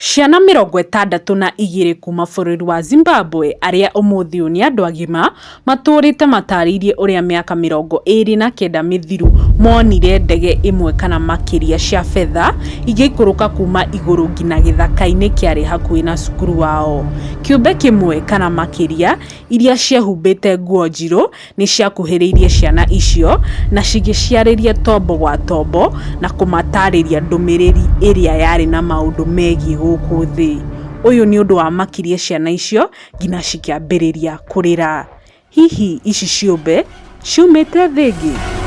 Ciana mĩrongo ĩtandatũ na igĩrĩ kuma bũrũri wa Zimbabwe arĩa ũmũthĩ ũyũ nĩ andũ agima matũũrĩte matarĩirie ũrĩa mĩaka mĩrongo ĩĩrĩ na kenda mĩthiru monire ndege ĩmwe kana makĩria cia fedha igĩikũrũka kuma igũrũ ngina gĩthaka-inĩ kĩarĩ hakuhĩ na cukuru wao. Kĩũmbe kĩmwe kana makĩria iria ciehũmbĩte nguo njirũ Nĩ ciakuhĩrĩirie ciana icio na cigĩciarĩria tombo gwa tombo na kũmataarĩria ndũmĩrĩri ĩrĩa yarĩ na maũndũ megiĩ gũkũ thĩ. Ũyũ nĩ ũndũ wamakirie ciana icio nginya cikĩambĩrĩria kũrĩra. Hihi ici ciũmbe ciumĩte thĩ ĩngĩ?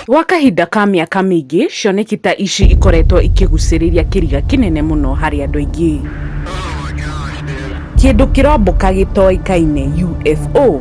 Gwa kahinda ka mĩaka mĩingĩ, cioneki ta ici ikoretwo ikĩgucĩrĩria kĩriga kĩnene mũno harĩ andũ aingĩ. Kĩndũ kĩrombũka gĩtoĩkaine, UFO,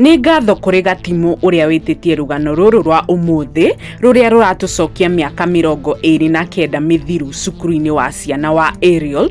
nĩ ngatho kũrĩ gatimũ ũrĩa wĩtĩtie rũgano rũrũ rwa ũmũthĩ rũrĩa rũratũcokia mĩaka mĩrongo ĩrĩ na kenda mĩthiru cukuru-inĩ wa ciana wa ariel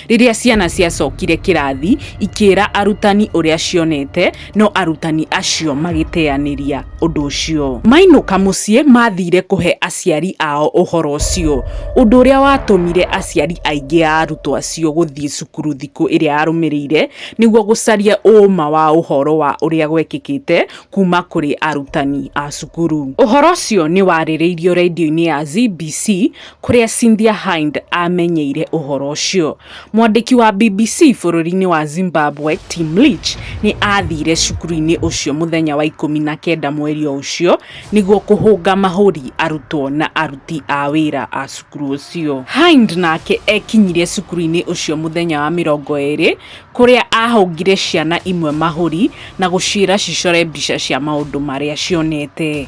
Rĩrĩa ciana ciacokire kĩrathi ikĩra arutani ũrĩa cionete, no arutani acio magĩteanĩria ũndũ ũcio. Mainũka mũciĩ maathire kũhe aciari ao ũhoro ũcio, ũndũ ũrĩa watũmire aciari aingĩ a arutwo acio gũthiĩ cukuru thikũ ĩrĩa yarũmĩrĩire nĩguo gũcaria ũũma wa ũhoro wa ũrĩa gwekĩkĩte kuuma kũrĩ arutani a cukuru. Ũhoro ũcio nĩ warĩrĩirio redio-inĩ ya CBC kũrĩa Cynthia Hind aamenyeire ũhoro ũcio. Mwandĩki wa BBC bũrũri-inĩ wa Zimbabwe, Tim Leach, nĩ aathire cukuru-inĩ ũcio mũthenya wa ikũmi na kenda mweri o ũcio nĩguo kũhũnga mahũri arutwo na aruti a wĩra a cukuru ũcio. Hind nake ekinyire cukuru-inĩ ũcio mũthenya wa mĩrongo ĩrĩ kũrĩa aahũngire ciana imwe mahũri na gũciĩra cicore mbica cia maũndũ marĩa cionete.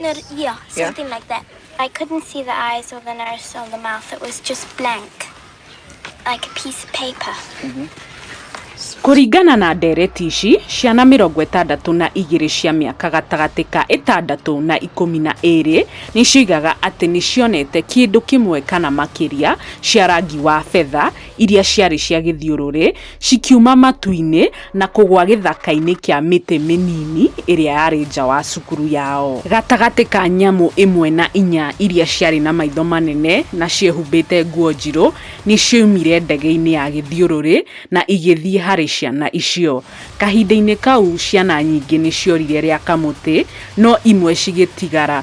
No, yeah, something yeah. like that. I couldn't see the eyes or the nose or the mouth. It was just blank, like a piece of paper. Mm -hmm. Kũringana na ndereti ici, ciana mĩrongo ĩtandatũ na igĩrĩ cia mĩaka gatagatĩ ka ĩtandatũ na ikũmi na ĩrĩ nĩcioigaga atĩ nĩcionete kĩndũ kĩmwe kana makĩria cia rangi wa betha iria ciarĩ cia gĩthiũrũrĩ, cikiuma matu-inĩ na kũgũa gĩthaka-inĩ kĩa mĩtĩ mĩnini ĩrĩa yarĩ nja wa cukuru yao. Gatagatĩ ka nyamũ ĩmwe na inya iria ciarĩ na maitho manene na ciehumbĩte nguo njirũ, nĩ cioimire ndege-inĩ ya gĩthiũrũrĩ na igĩthiĩ harĩ ciana icio. Kahinda-inĩ kau, ciana nyingĩ nĩ ciorire rĩa kamũtĩ, no imwe cigĩtigara.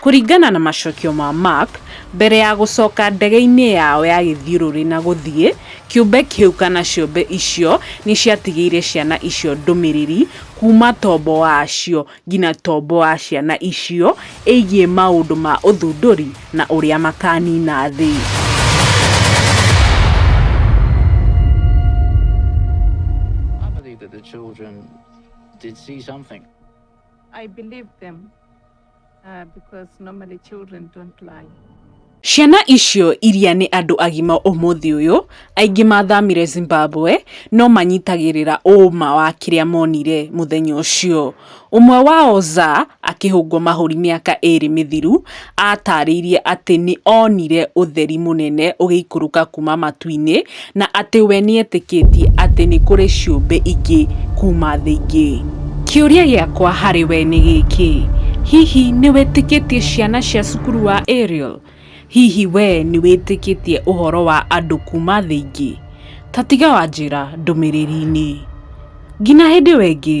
Kũringana na macokio ma Mark, mbere ya gũcoka ndege-inĩ yao ya gĩthiũrũrĩ na gũthiĩ, kĩũmbe kĩu kana ciũmbe icio nĩ ciatigĩire ciana icio ndũmĩrĩri kuuma tombo wacio nginya tombo wa ciana icio ĩgiĩ maũndũ ma ũthundũri na ũrĩa makaaniina thĩ. Uh, because normally children don't lie. Ciana icio iria nĩ andũ agima ũmũthĩ ũyũ, aingĩ mathamire Zimbabwe no manyitagĩrĩra ũũma wa kĩrĩa monire mũthenya ũcio. Ũmwe wao Za akĩhũngwo mahũri mĩaka ĩĩrĩ mĩthiru aatarĩirie atĩ nĩ onire ũtheri mũnene ũgĩikũrũka kuuma matu-inĩ Na atĩ we nĩetĩkĩtie atĩ nĩ kũrĩ ciũmbe ingĩ kuuma thĩ ingĩ. Kĩũria gĩakwa harĩ we nĩ gĩkĩ, Hihi nĩ wĩtĩkĩtie ciana cia cukuru wa Ariel? Hihi we nĩ wĩtĩkĩtie ũhoro wa andũ kuuma thĩ ingĩ? Ta tiga wanjĩra ndũmĩrĩri-inĩ. Ngina hĩndĩ we ngĩ.